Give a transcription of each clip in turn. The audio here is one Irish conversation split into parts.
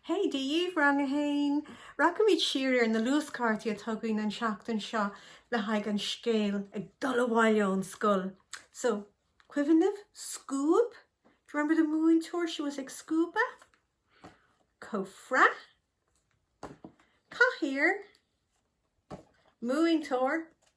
Hey daoibh, Rang 1! Rachaimid siar ar na luaschártaí atá againn an seachtain seo le haghaidh an scéal Ag Dul Abhaile ón Scoil. So, cuimhin libh scuab? Do you remember the múinteoir? She was ag scuabadh. Cófra. Cathaoir. Múinteoir.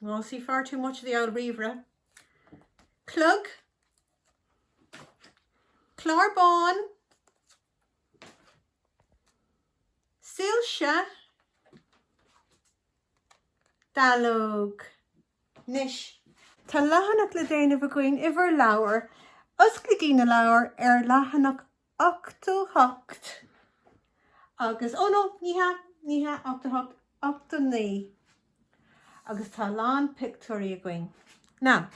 We'll see far too much of the old ríomhaire. Clog. Clár bán. Soilse. Dallóg. Anois. Tá leathanach le déanamh againn i bhur leabhar. Osclaígí na leabhair ar leathanach 88 agus, oh no, ní hea, ní hea, 88, 89 agus tá a lán pictiúirí againn. Now,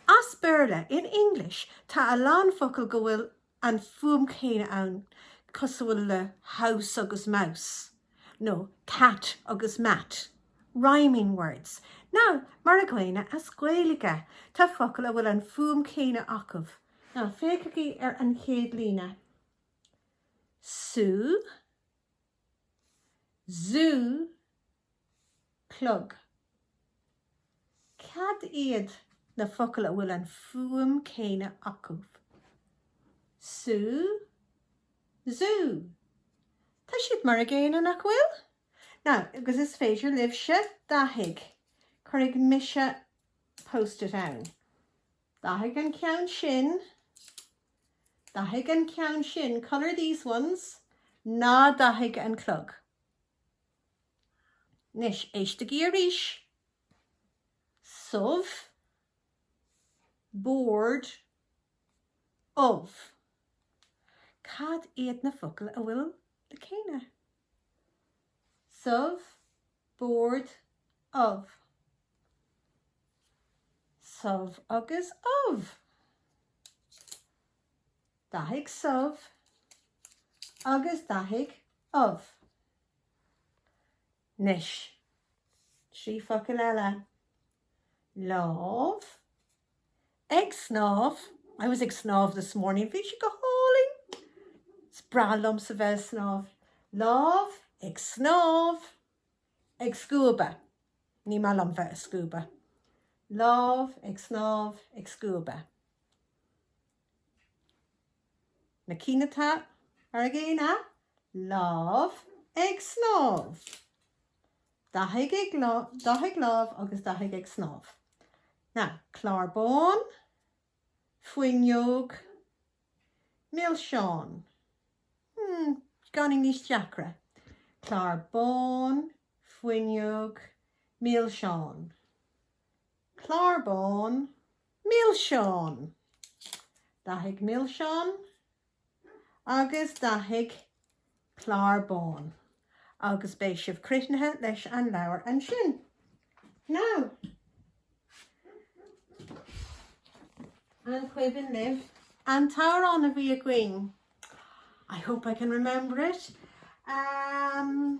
as Béarla, in English, tá a lán focal go bhfuil an fuaim céanna ann cosúil le house agus mouse nó cat agus mat, rhyming words. Now, mar a gcéanna as Gaeilge, tá focail a bhfuil an fuaim céanna acu. Now, féachaigí ar an chéad líne. Sú, zú, clog. Cad iad na focail a bhfuil an fuaim céanna acu? Sú, zú. Tá siad mar a gcéanna, nach bhfuil? Now, agus is féidir libhse, dathaigh, cuirfidh mise post-it ann. Dathaigh an ceann sin. Dathaigh an ceann sin. Colour these ones. Ná dathaigh an clog. Anois, éistigí arís. subh, bord, ubh. Cad iad na focail a bhfuil na céanna? subh, bord, ubh, subh agus ubh, dathaigh subh agus dathaigh ubh, Anois, trí focal eile, lámh, Ag snámh, I was ag snámh this morning. Bhí sé go hálainn. Is breá liomsa bheith ag snámh. Lámh, Ag snámh. Ag scuabadh, Ní maith liom bheith ag scuabadh. Lámh, Ag snámh. Ag scuabadh. Na cinn atá mar a gcéanna, Lámh, Ag snámh. Dathaigh lámh agus dathaigh ag snámh. Now, clár bán, fuinneog, milseán. Hmm, beagáinín níos deacra. Clár bán, fuinneog, milseán. Clár bán, milseán! Dathaigh milseán. agus dathaigh clár bán agus beidh sibh críochnaithe leis an leabhar ansin. Now, an cuimhin libh an t-amhrán a bhí againn? I hope I can remember it. Um,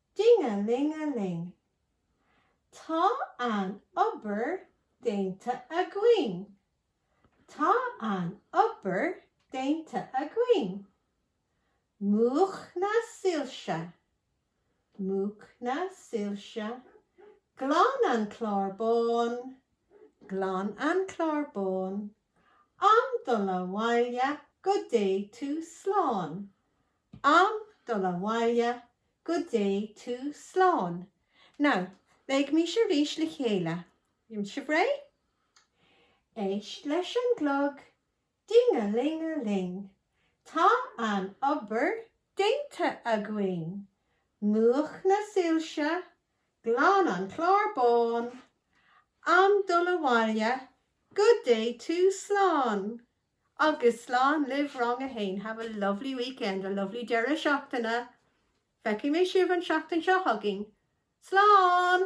Ding-a-ling-a-ling. Tá an obair déanta againn. Tá an obair déanta againn. Múch na soilse. Múch na soilse. Glan an clár bán. Glan an clár bán. Am dul abhaile go dté tú slán. Am dul abhaile, go dté tú slán. Now, léimis arís le chéile, an bhfuil sibh réidh? Éist leis an gclog, ding-a-ling-a-ling, tá an obair déanta againn. Múch na soilse, glan an clár bán. Am dul abhaile, go dté tú slán. Agus slán libh rang a haon, have a lovely weekend, a lovely deireadh seachtaine, feicfidh mé sibh an seachtain seo chugainn, slán!